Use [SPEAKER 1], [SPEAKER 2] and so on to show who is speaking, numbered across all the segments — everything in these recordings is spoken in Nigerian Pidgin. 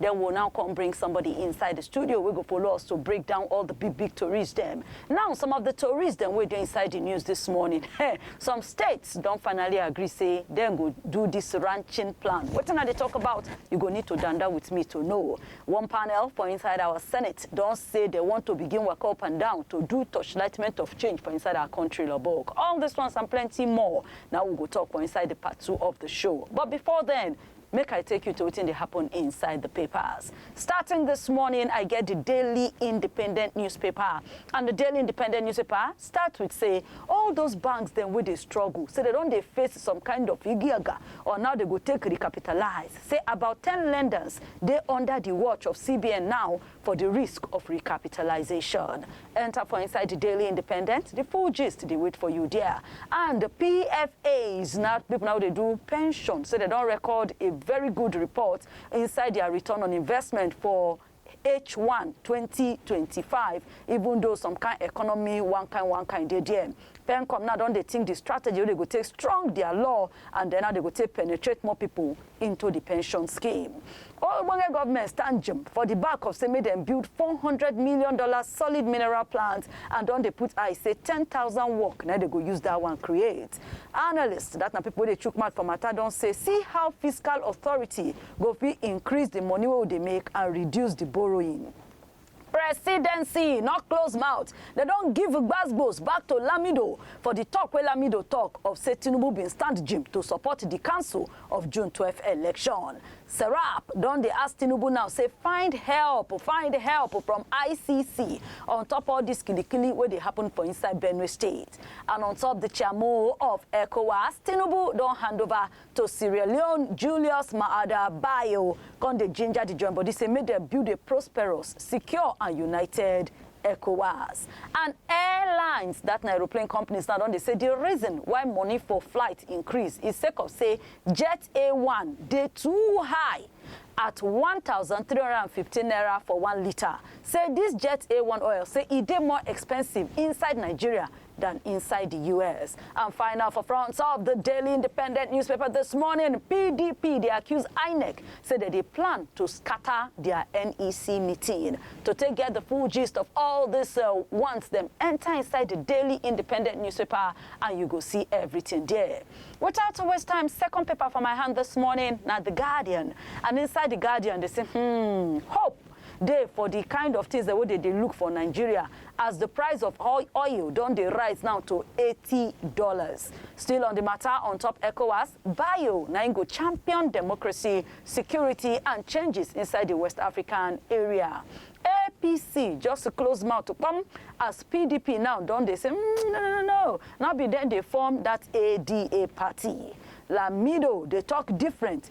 [SPEAKER 1] Then we will now come bring somebody inside the studio wey go follow us to break down all the big big tories dem. Now some of the tories dem wey dey inside the news this morning, hey, some states don finally agree say dem go do this ranching plan. Wetin I dey talk about? You go need to danda with me to know. One panel for inside our senate don say they want to begin waka up and down to do torchlightment of change for inside our country Lobok. All these ones and plenty more na we go talk for inside the part two of the show. But before then, Make I take you to wetin dey happen inside the papers. Starting this morning, I get the Daily Independent newspaper and the Daily Independent newspaper start with say all those banks dem wey dey struggle say dem don dey face some kind of igiaga or now dem go take recapitalize say about ten lenders dey under the watch of CBN now for di risk of recapitalisation. Enta for inside di Daily Independent, di full gist dey wait for you there. And di PFAs na pipo na wey dey do pension say dem don record a very good report inside dia return on investment for H1 2025 even though some kain economy one kain one kain dey there. Pencom now don dey think di strategy wey dey go take strong dia law and den how dey go take penetrate more pipo into di pension scheme. Ogbonge government stand jim for di back of say make dem build four hundred million dollar solid mineral plant and don dey put eye say ten thousand work na dey go use dat one create. Analysts, dat na pipo wey dey chook mouth for mata don say see how fiscal authority go fit increase di money wey we dey make and reduce di borrowing. presidency no close mouth dem don give gbasgbos back to lamido for di tok wey lamido tok of say tinubu bin stand jim to support di council of june twelve election serap don dey ask tinubu now say find help find help from icc on top all dis kilikili wey dey happen for inside benue state and on top di chairmo of ecowas tinubu don hand over to Sierra Leone, Julius Maada Bio, come dey ginger di join body say make dem build a prosperous, secure and united ECOWAS. And airlines, dat na aeroplane companies now don dey say di reason why money for flight increase is sake of say Jet A1 dey too high at one thousand three hundred and fifteen naira for one litre, say dis Jet A1 oil say e dey more expensive inside Nigeria dan inside di us and find out for front of di daily independent newspaper dis morning pdp dey accuse inec say dem dey plan to scata dia nec meeting to take get di full gist of all dis once dem enta inside di daily independent newspaper and you go see everything there without to waste time second paper for my hand dis morning na di guardian and inside di guardian dey say hmm hope dey for di kind of tins dem wey dey dey look for Nigeria as di price of oil don dey rise now to eighty dollars. Still on di mata on top Ecowas, Bayo na im go champion democracy, security and changes inside di West African area. APC just close mouth kpom as PDP now don dey say mm, no no no, no be dem dey form dat ADA party. Lamido dey talk different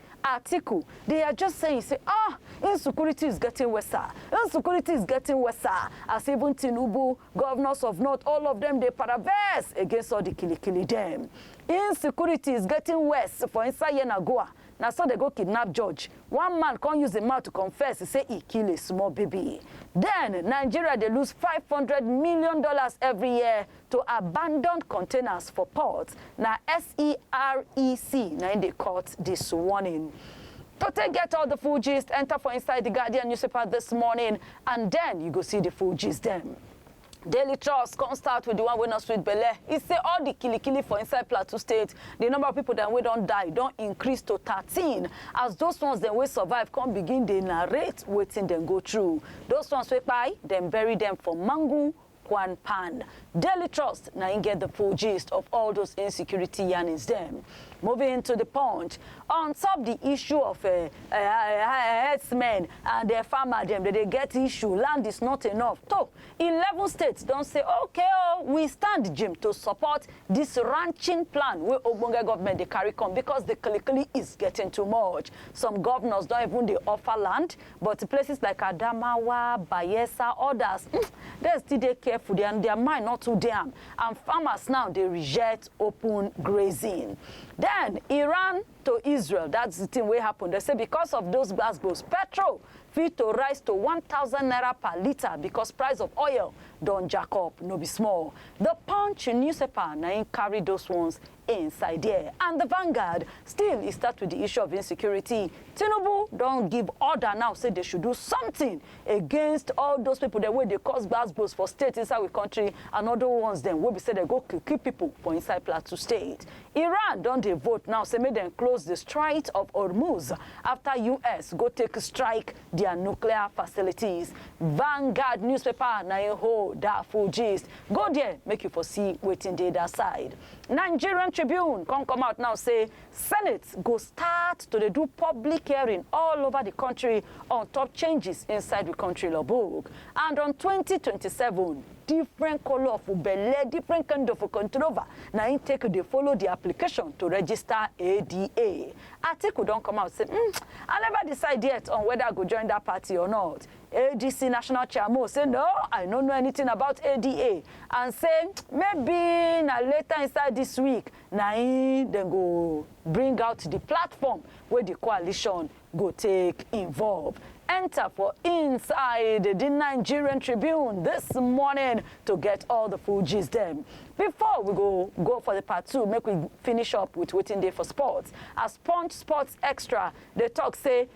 [SPEAKER 1] Atiku, They are just saying say ah insecurity is getting worse, insecurity is getting worse as even Tinubu, governors of north, all of them dey paraverse against all the kilikili dem. Insecurity is getting worse for inside Yenagoa. Na so they go kidnap George. One man come use him mouth to confess say he kill a small baby. Then Nigeria dey lose five hundred million dollars every year To abandon containers for port, na SEREC na im dey cut dis warning. To take get all the full gist, enter for inside the Guardian newspaper this morning and then you go see the full gist dem. Daily Trust come start with the one wey no sweet belle. E say all the kilikili for inside Plateau State, the number of people dem wey don die don increase to thirteen as those ones dem wey survive come begin dey narrate wetin dem go through. Those ones wey kpai, dem bury dem for Mangu Kwan Pan. Daily Trust na im get the full gist of all those insecurity yarnings dem. Moving to the punch, on top the issue of uh, uh, uh, herdsmen and uh, farmer dem, they dey get issue, land is not enough. So, 11 states don say, okay, oh, we stand Jim to support this ranching plan wey ogbonge government dey carry come because the kilikili is getting too much. Some governors don even dey offer land, But places like Adamawa, Bayelsa, odas, dem still dey careful, dia dia mind no too dey am and farmers now dey reject open grazing. Den Iran to Israel, dat's di tin wey happen, dem say because of those gbas gbos, petrol fit to rise to one thousand naira per litre because price of oil don jack up no be small. The Punch newspaper na im carry those ones inside there. And the Vanguard, still e start with the issue of insecurity. Tinubu don give order now say they should do something against all those people dem wey dey cause gbasgbos for state inside we country and other ones dem wey be say dem go kill kill people for inside Plateau state. Iran don dey vote now say make dem close the Strait of Hormuz after US go take strike their nuclear facilities. Vanguard newspaper na im hold that full gist. Go there make you for see wetin dey that side. Nigerian Tribune come come out now say Senate go start to dey do public hearing all over the country on top changes inside the country law book and on 2027 different color of belle different kind of controver na im take dey follow the application to register ADA. Atiku don come out say mm, I never decide yet on whether I go join that party or not ADC National Chairmo say no, I no know anything about ADA and say maybe na later inside this week na im dem go bring out the platform wey the coalition go take involve. Enter for inside the Nigerian Tribune this morning to get all the full gist dem. Before we go go for the part two, make we finish up with wetin dey for sports. As Punch Sports Extra dey talk say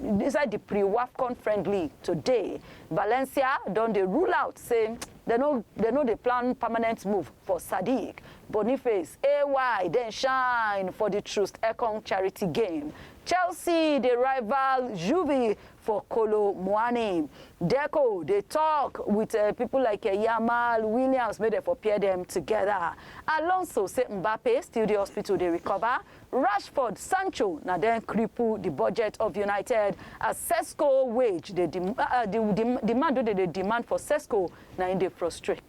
[SPEAKER 1] Inside di pre-Wafcon friendly today, Valencia don dey rule out say dem no dem no dey plan permanent move for Sadiq. Boniface AY den shine for di Troost Ekong charity game. Chelsea dey rival Juve for Kolo Muani. Deco dey tok wit pipo like Yamal, Williams make dem for pair dem togeda. Alonso say Mbappe still dey hospital dey recover. Rashford, Sancho na dem cripple di budget of United as Sesko wage dey dem ah di di demand wey dem dey demand for Sesko na im dey frustrate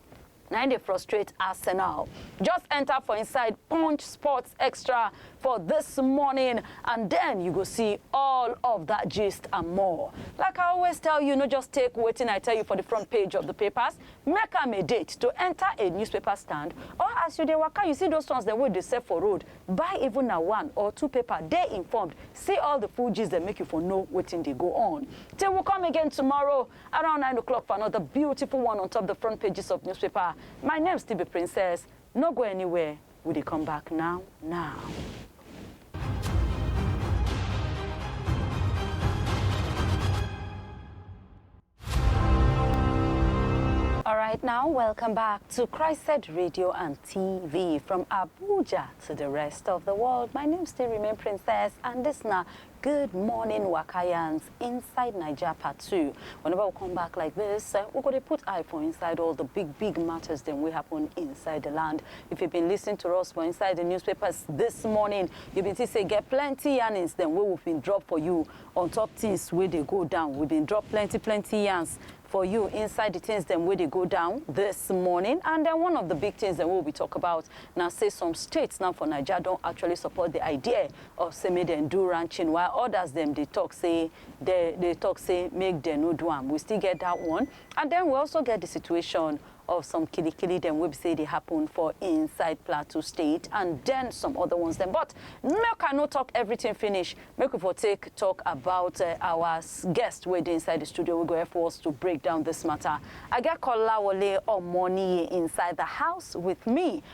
[SPEAKER 1] na im dey frustrate Arsenal. Just enter for inside Punch Sports Extra for this morning and then you go see all of that gist and more. Like I always tell you, no just take wetin I tell you for the front page of the papers, Make am a date to enter a newspaper stand or as you dey waka you see those ones dem wey dey sell for road, buy even na one or two paper dey informed see all the full gist dem make you for know wetin dey go on. Till we come again tomorrow around nine o'clock for another beautiful one on top the front pages of newspaper, my name still be Princess, no go anywhere we dey come back now now. All right, now welcome back to Christ Radio and TV from Abuja to the rest of the world. My name still remain Princess, and this now Good morning, Wakayans, inside Niger Part 2. Whenever we come back like this, uh, we're going to put eye for inside all the big, big matters that will happen inside the land. If you've been listening to us for inside the newspapers this morning, you've been see say get plenty earnings, then we will be drop for you On top things wey dey go down, we been drop plenty plenty yarns for you inside the things dem wey dey go down this morning and then one of the big things dem wey we be talk about na say some states now for Naija don actually support the idea of say make dem do ranching while others dem dey talk say dey dey talk say make dem no do am, we still get that one and then we also get the situation of some kili kili dem wey be say e dey happen for inside Plateau State and den some other ones dem but make I no talk everything finish make we for take talk about our guest wey dey inside the studio wey go help us to break down this matter I get Kolawole Omoniye inside the house with me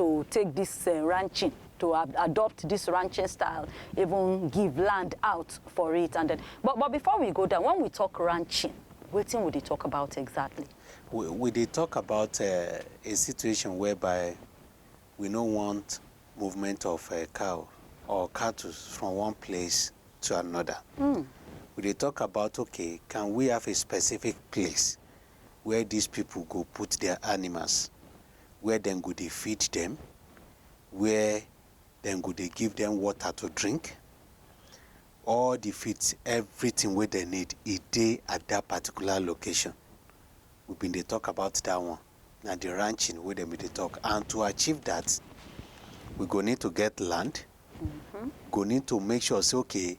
[SPEAKER 1] to take dis um ranching to adopt this ranching style, even give land out for it and then. But, but before we go down, when we talk ranching, wetin we dey talk about exactly? We, we dey
[SPEAKER 2] talk about uh, a situation whereby we no want movement of uh, cow or cattle from one place to another. Mm. We dey talk about, okay, can we have a specific place where these people go put their animals? where dem go dey feed dem, where dem go dey give dem water to drink, all the feeds, everything wey dem need, e dey at that particular location. We been dey talk about that one. Na the ranching wey dem been dey talk. And to achieve that, we go need to get land, mm -hmm. go need to make sure say, okay,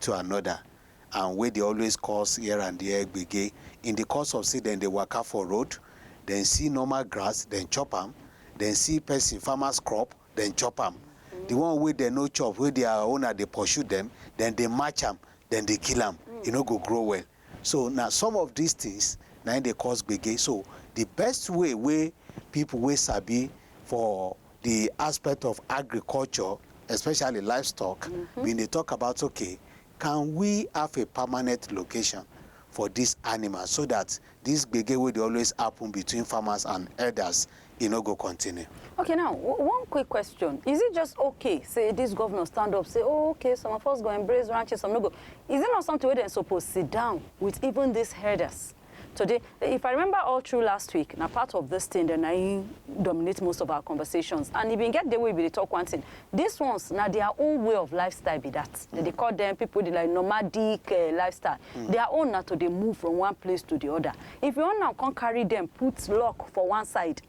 [SPEAKER 2] to anoda and wey dey always cause here and there gbege in di course of say dem dey waka for road, dem see normal grass dem chop am, dem see pesin farmers crop dem chop am, di one wey dem no chop wey dia owner dey pursue dem, dem dey match am dem dey kill am, e no go grow well. So na some of dis tins na im dey cause gbege. So di best way wey pipu wey sabi for di aspect of agriculture especially livestock bin dey tok about okay can we have a permanent location for dis animals so dat dis gbege wey dey always happun between farmers and herders e no go continue. Okay now,
[SPEAKER 1] one quick question. Is it just okay say this governor stand up say oh okay some of us go embrace ranching some no go. Is it not something wey dem suppose sit down with even these herders today? If I remember all through last week na part of this thing dem na im dominate most of our conversations and e bin get day wey we bin dey talk one thing. These ones na their own way of lifestyle be that. Dem dey call them people dey like nomadic eh, lifestyle. Their own na to dey move from one place to the other. If you wan now come carry dem put lock for one side,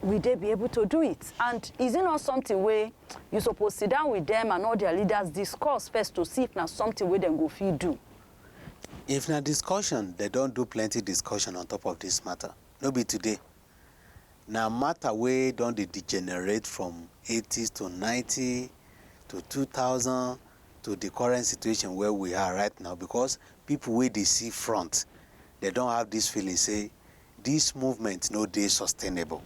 [SPEAKER 1] will they be able to do it? And is it not something wey you suppose sit down with dem and all their leaders discuss first to see if na something wey dem go fit do? If
[SPEAKER 2] na discussion, dem don do plenty discussion on top of this matter, no be today. Na matter wey don dey degenerate from eighties to ninety to two thousand to the current situation where we are right now because people wey dey see front they don have this feeling say this movement no dey sustainable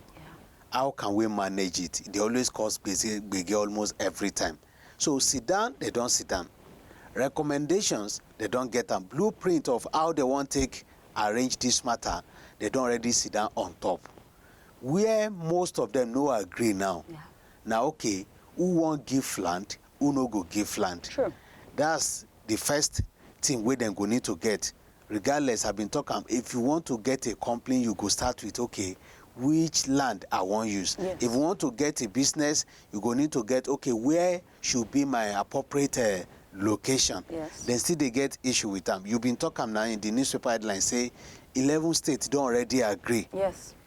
[SPEAKER 2] how can we manage it e dey always cause gbege gbege almost every time so sit down they don sit down recommendations they don get am blueprint of how they wan take arrange this matter they don already sit down on top where most of them no agree now Yeah. na okay who wan give land who no go give land. True. That's
[SPEAKER 1] the
[SPEAKER 2] first thing wey dem go need to get. Regardless, I been talk am, if you want to get a company, you go start with, okay, which land I wan use. Yes. If you want to get a business, you go need to get, okay, where should be my appropriate uh, location. Yes. Then still they
[SPEAKER 1] get issue
[SPEAKER 2] with them. You been talk am now in the newspaper headline say 11 states don't already agree. Yes.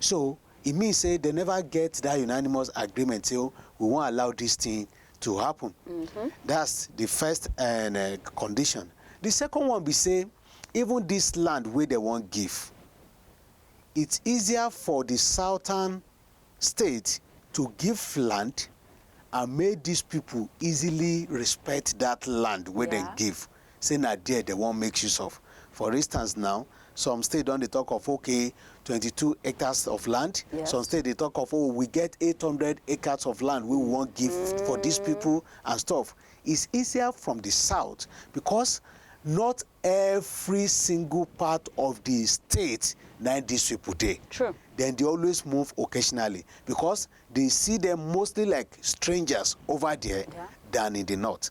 [SPEAKER 2] So, e mean say dem neva get dat unanimous agreement say we wan allow dis tin to happun. Dat's di first um condition. Di second one be say even dis land wey dem wan give, it's easier for di southern state to give land and make dis pipo easily respect dat land wey dem give. say na there dem wan make use of. For instance now, some state don dey talk of okay twenty two hectares of land, some state dey talk of
[SPEAKER 1] oh we
[SPEAKER 2] get eight hundred hectares of land wey we wan give for dis people and stuff. It's easier from the south because not every single part of the state na im dis people dey. True. Dem dey always move occasionally because they see dem mostly like strangers over there than in the north.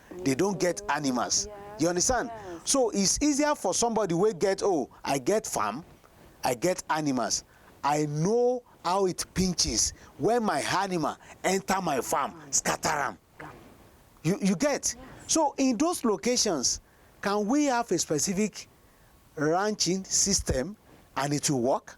[SPEAKER 2] they don't get animals you understand so it's
[SPEAKER 1] easier for
[SPEAKER 2] somebody wey get oh i get farm i get animals i know how it pinches when my animal enter my farm scatter am you you get so in those locations can we have a specific ranching system and it will work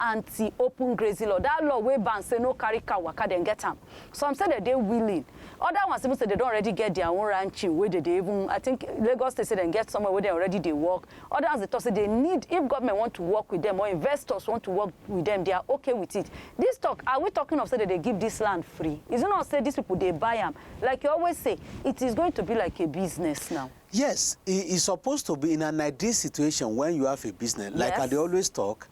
[SPEAKER 1] anti open grazing law that law wey ban say no carry cow waka dem get am some say dem dey willing other ones even say dem don already get their own ranching wey dem dey even i think lagos state say dem get somewhere wey dem already dey work other ones dey talk say they need if government want to work with them or investors want to work with them they are okay with it this talk are we talking of say dem dey give this land free is it not say these people dey buy am like you always say it is going to be like a business now. yes e e
[SPEAKER 2] suppose to be in an ideal situation when you have a business like i dey always talk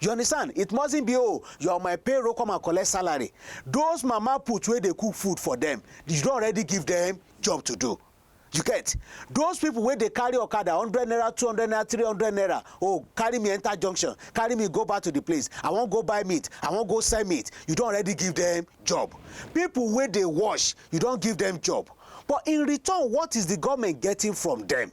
[SPEAKER 2] You understand? It mustn't be oh, you're on my payroll, come and collect salary. Those mama put where they cook food for them, you don't already give them job to do. You get? Those people where they carry Okada, 100 naira, 200 naira, 300 naira, oh, carry me enter junction, carry me go back to the place. I won't go buy meat, I won't go sell meat. You don't already give them job. People where they wash, you don't give them job. But in return, what is the government getting from them?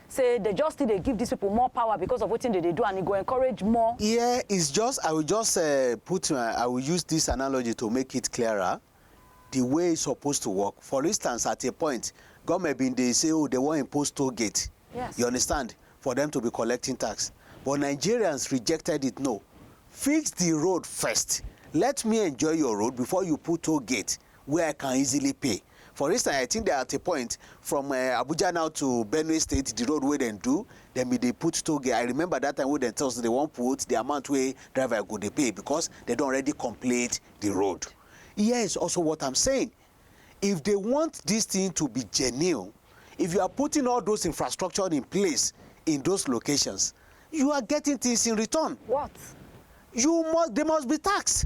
[SPEAKER 1] say dem just still dey give dis people more power because of wetin dem dey do and e go encourage more. Here is just I will just
[SPEAKER 2] um put my I will use this analogy to make it clearer the way e suppose to work for instance at a point government been dey say oh dem wan impose toll gate Yes. you understand
[SPEAKER 1] for
[SPEAKER 2] them to be collecting tax but Nigerians rejected it no fix the road first let me enjoy your road before you put toll gate wey I can easily pay. For instance, I think that at a point from um Abuja now to Benue State, the road wey dem do, dem bin dey put toll gate. I remember that time wey dem tell us dem wan put the amount wey driver go dey pay because dem don already complete the road. Here is also what I'm saying. If they want this thing to be genuine, if you are putting all those infrastructure in place in those locations, you are getting things in return. What?
[SPEAKER 1] You must,
[SPEAKER 2] they must be taxed.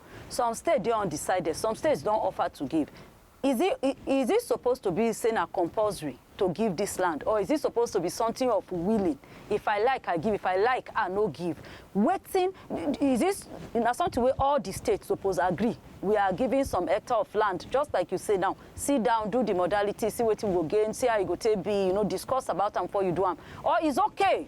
[SPEAKER 1] Some state dey undecided, some states don offer to give. Is it is it suppose to be say na compulsory to give dis land or is it suppose to be something of willing if I like I give if I like I no give wetin is this na something wey all the states suppose agree we are giving some hectare of land just like you say now sit down do the modality see wetin we go gain see how e go take be you know discuss about am before you do am or is okay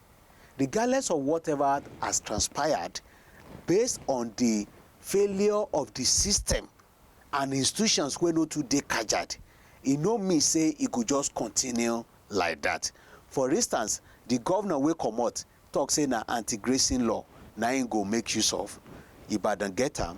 [SPEAKER 2] regardless of whatever has transpired based on di failure of di system and institutions wey no too dey kajad, e no mean say e go just continue like dat. For instance, di govnor wey comot tok say na anti-grazing law na im go make use of, Ibadan get am?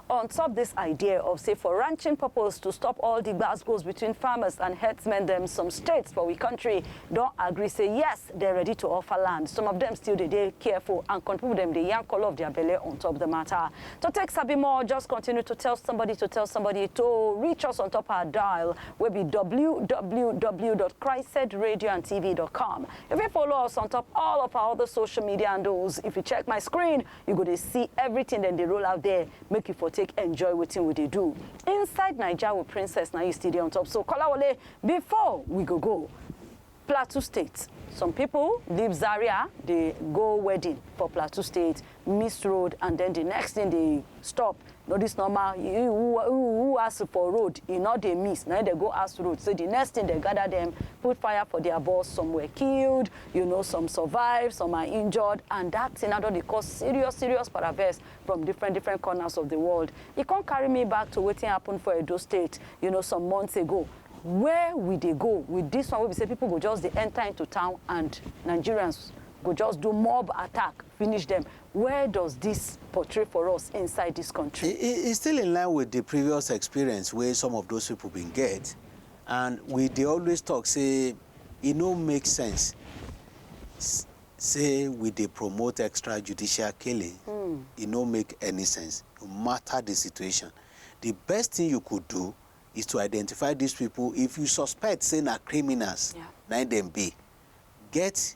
[SPEAKER 1] On top dis idea of say for ranching purpose to stop all di gbas gbos between farmers and herdsmen dem, some states for we country don agree say yes, dem ready to offer land. Some of dem still dey dey careful and country people dem dey yarn colour of their belle on top the matter. To take sabi more, just continue to tell somebody to tell somebody to reach us on top our dial wey be www dot chrised radio and tv dot com. You fit follow us on top all of our other social media handles. If you check my screen, You go dey see everything dem dey roll out there make you for take enjoy wetin we dey do inside Naija with Princess na you still dey on top so Kolawole before we go go Plateau State some people leave Zaria dey go wedding for Plateau State miss road and then the next thing dey stop no this normal who ask for road e no dey miss na dem go ask road so the next thing dem gather them put fire for their bus some were killed you know some survived some are injured and that thing na don dey cause serious serious paravex from different different corners of the world e come carry me back to wetin happen for Edo State you know some months ago where we dey go with this one wey be say people go just dey enter into town and Nigerians go just do mob attack finish them Where does dis portray for us inside dis kontri? E e e still in line
[SPEAKER 2] with di previous experience wey some of those pipo bin get and we dey always tok say e no make sense say we dey promote extrajudicial killing, e no make any sense no matter di situation. Di best tin you could do is to identify dis pipo if you suspect say na criminals na im dem be, get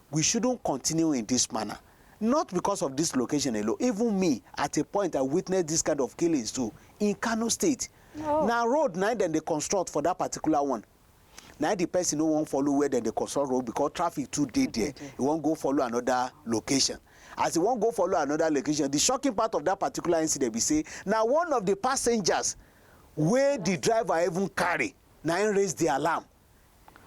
[SPEAKER 2] We shouldn't continue in this manner, not because of this location alone, even me at a point I witnessed this kind of killings too in Kano state. Oh. Na road na dem dey construct for that particular one na the person no wan follow where dem dey construct road because traffic too dey there e wan go follow another location as e wan go follow another location the shocking part of that particular incident be say na one of the passengers wey the driver even carry na im raise the alarm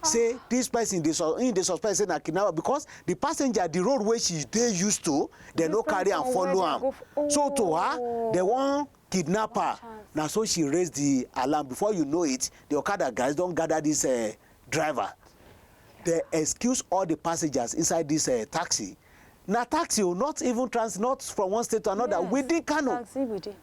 [SPEAKER 2] say this person dey sus him dey suspect say na kidnapper because the passenger the road wey she dey used to dem no Different carry am from where follow they am go f- so to her Oh. dem wan kidnap her chance. na so she raise the alarm before you know it the okada guys don gather this uh, driver they excuse all the passengers inside this uh, taxi na taxi o not even transit not from one state to another Yes, within kano taxi within.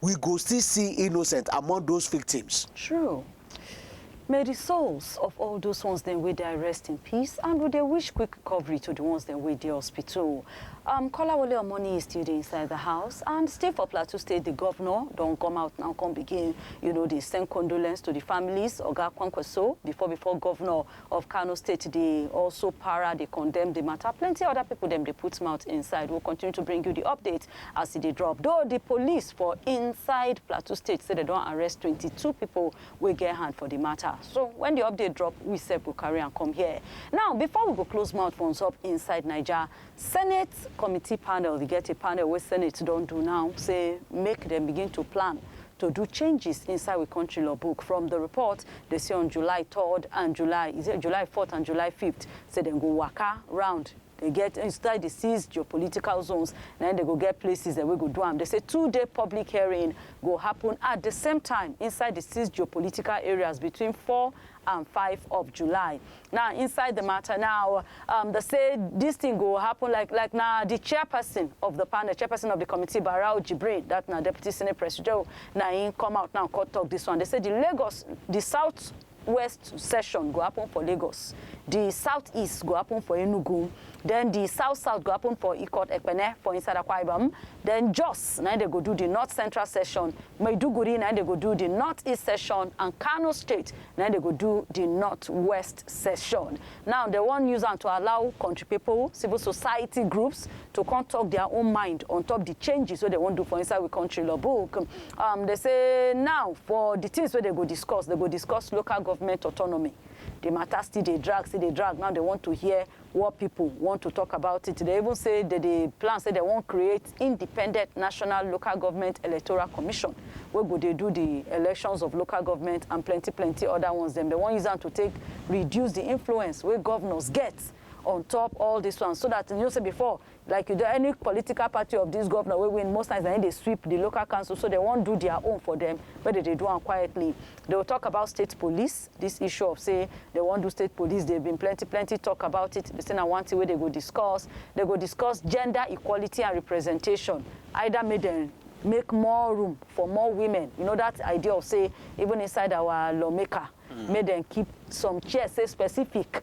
[SPEAKER 2] we go still see innocent among those victims. True.
[SPEAKER 1] May the souls of all those ones then wey die rest in peace and we dey wish quick recovery to the ones then wey dey hospital. Um, Kolawole Omoni is still dey inside the house and still for Plateau State, the governor don come out now come begin, you know, dey send condolence to the families. Oga Kwankwaso, before before governor of Kano State dey also para dey condemn di mata, plenty oda pipo dem dey put mouth inside, we will continue to bring you di update as e dey drop, though di police for inside Plateau State say dem don arrest twenty two pipo wey get hand for di mata, so wen di update drop we sef go carry am come here, now before we go close mouth for on top Inside Naija. Senate committee panel, e get a panel wey Senate don do now say make dem begin to plan to do changes inside we country law book. From the report, they say on July 3rd and July, is it July 4th and July 5th, say dem go waka round. They get inside the six geopolitical zones, then they go get places that we go do am. They say two-day public hearing go happen at the same time inside the six geopolitical areas between 4 and five of july now inside the matter now um, they say this thing go happen like like now the chairperson of the panel chairperson of the committee barao jibril that now deputy senate president now he come out now court talk this one they say the lagos the south west session go happen for lagos the southeast go happen for enugu Den di South South go happen for Ikot Ekpene for inside Akwa Ibom, den Jos na im dem go do di North Central Session, Maiduguri na im dem go do di North East Session and Kano State na im dem go do di North West Session. Now dem wan use am to allow kontri pipo, civil society groups to come tok dia own mind on top di changes wey dem wan do for inside we kontri law book. um Dem say now for di tins wey dem go discuss, dem go discuss local government autonomy, di mata still dey drag, still dey drag, now dem want to hear War pipo want to tok about it, dem even say dem dey plan say dem wan create independent national local government electoral commission wey go dey do di elections of local government and plenty plenty oda ones dem. Dem wan use am to take reduce di influence wey govnors get on top all dis ones so dat you know say before Like you don any political party of this governor wey win most times na him dey sweep the local council so dem wan do their own for dem make dem dey do am quietly dey will talk about state police this issue of say dem wan do state police dey been plenty plenty talk about it dey say na one thing wey dey go discuss dey go discuss gender equality and representation either make dem make more room for more women you know that idea of say even inside our lawmaker make dem keep some chair say specific.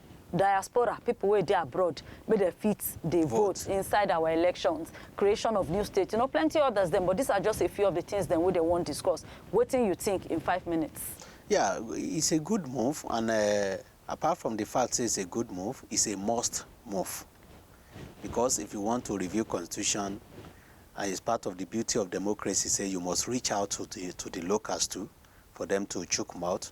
[SPEAKER 1] diaspora, people wey dey abroad, make dem fit dey vote. vote inside our elections, creation of new states, you know, plenty others dem, but these are just a few of the things dem wey dem wan discuss. Wetin you think in five minutes? Yeah, it's a good
[SPEAKER 2] move and uh, apart from the fact say it's a good move, it's a must move. Because if you want to review constitution, and it's part of the beauty of democracy, say you must reach out to the, to the locals too, for them to chook mouth.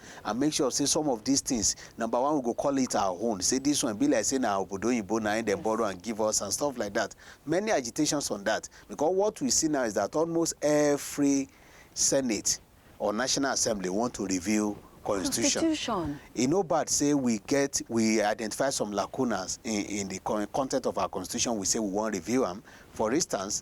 [SPEAKER 2] and make sure say some of dis things number one we go call it our own say dis one e be like say na obodo oyinbo na im dem borrow and give us and stuff like dat many agitations on dat because what we see now is dat almost every senate or national assembly want to review constitution constitution e no bad say we get we identify some lacunas in in the con content of our constitution we say we wan review am for instance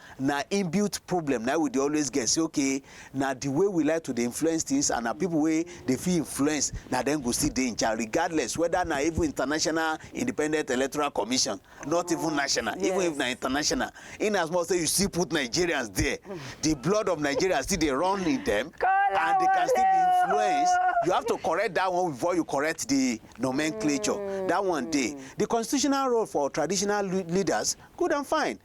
[SPEAKER 2] na inbuilt problem na we dey always get say okay na the way we like to dey influence things and na people wey dey fit influence na dem go still dey in charge regardless whether na even international independent electoral commission not even national yes. even if na international in as much say you still put nigerians there the blood of nigeria still dey run in them and they can still be influenced you have to correct that one before you correct the nomenclature mm. that one day the constitutional role for traditional leaders good and fine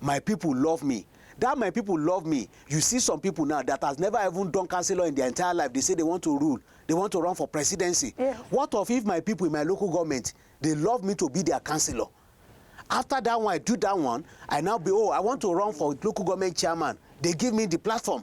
[SPEAKER 2] My people love me that my people love me you see some people now that has never even done councillor in their entire life they say they want to rule they want to run for presidency yeah. what of if my people in my local government they love me to be their councillor after that one i do that one i now be oh i want to run for local government chairman they give me the platform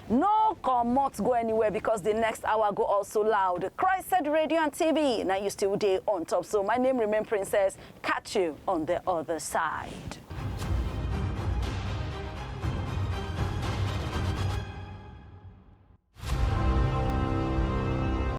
[SPEAKER 1] No comot go anywhere because the next hour go also loud. Christed Radio and TV, now you still day on top. So my name remain Princess. Catch you on the other side.